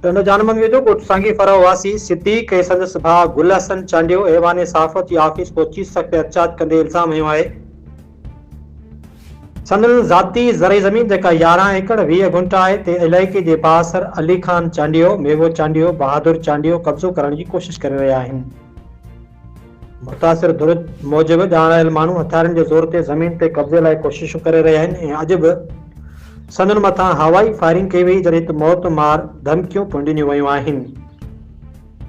ٽنڊو جانمن ويجهو ڳوٺ سانگي فرح واسي صديق ۽ سندس ڀاء گل حسن چانڊيو ايوان صحافت جي آفيس پهچي سخت احتجاج ڪندي الزام هنيو آهي سندن ذاتي زرعي زمين جيڪا يارهن ايڪڙ ويهه گهنٽا آهي تنهن علائقي جي بااثر علي خان چانڊيو، ميوو چانڊيو، بهادر چانڊيو قبضو ڪرڻ جي ڪوشش ڪري رهيا آهن. متاثر ڌر موجب ڄاڻايل آيل ماڻهو هٿيارن جي زور تي زمين تي قبضي لاء ڪوششون ڪري رهيا آهن ۽ اڄ به سندن مٿان هوائي فائرنگ ڪئي وئي جڏهن ته موت مار ڌمڪيون پڻ ڏنيون ويون آهن.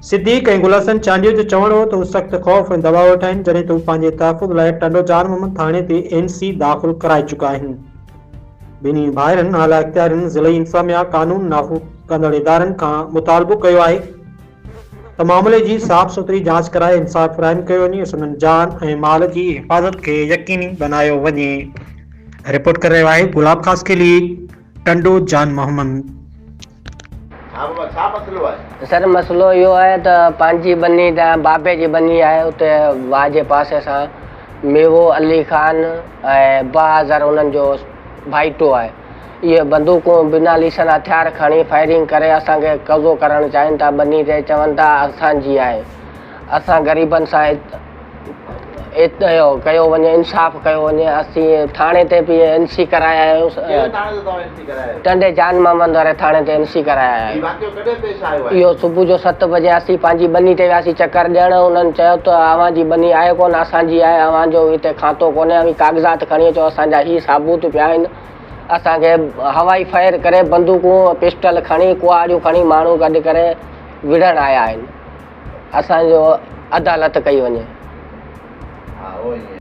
صديق ۽ گلحسن چانڊيو جو چوڻ هو ته هو سخت خوف ۽ دٻاء هيٺ آهن جڏهن ته هو پنهنجي تحفظ لاء ٽنڊو جان محمد ٿاڻي تي اين سي داخل ڪرائي چڪا آهن. ٻنهي ڀائرن اعليٰ اختيارين ضلعي انتظاميا قانون نافو ڪندڙ ادارن کان مطالبو ڪيو آهي ته معاملي جي صاف سٿري جاچ ڪرائي انصاف فراهم ڪيو وڃي، سندن جان ۽ مال جي حفاظت کي يقيني بنايو وڃي. رپورٽ ڪري رهيو آهي گلاب خاصخيلي، ٽنڊو جان محمد. ها بابا ڇا مسئلو آهي؟ سر مسئلو اهو آهي ته پنهنجي ٻني ته بابي جي ٻني آهي اتي واهه جي پاسي سان ميوو علي خان ۽ بهاظر انهن جو ڀائيٽو آهي. اهي بندوقون بنا ليسن هٿيار کڻي فائرنگ ڪري اسان کي قبضو ڪرڻ چاهين ٿا ٻني تي چون ٿا اسان جي آهي اسان غريبن سان ات ات ڪيو وڃي انصاف ڪيو وڃي اسين ٿاڻي تي به اين سي ڪرايا آهيون ٽنڊي جان محمد واري ٿاڻي تي اين سي ڪرايا آهيون اهو صبح جو ست بجي اسين پنهنجي ٻني تي وياسين چڪر ڏيڻ. انهن چيو ته اوهان جي ٻني آهي ڪونه، اسان جي آهي، اوهان جو هتي کاتو ڪونهي، اوهين ڪاغذات کڻي اچو، اسان جا هي ثابوت پيا آهن. اسان کي هوائي فائر ڪري، بندوقون، پسٽل کڻي، ڪهاڙيون کڻي ماڻهو گڏ ڪري وڙهڻ آيا آهن. اسان جو عدالت ڪئي وڃي.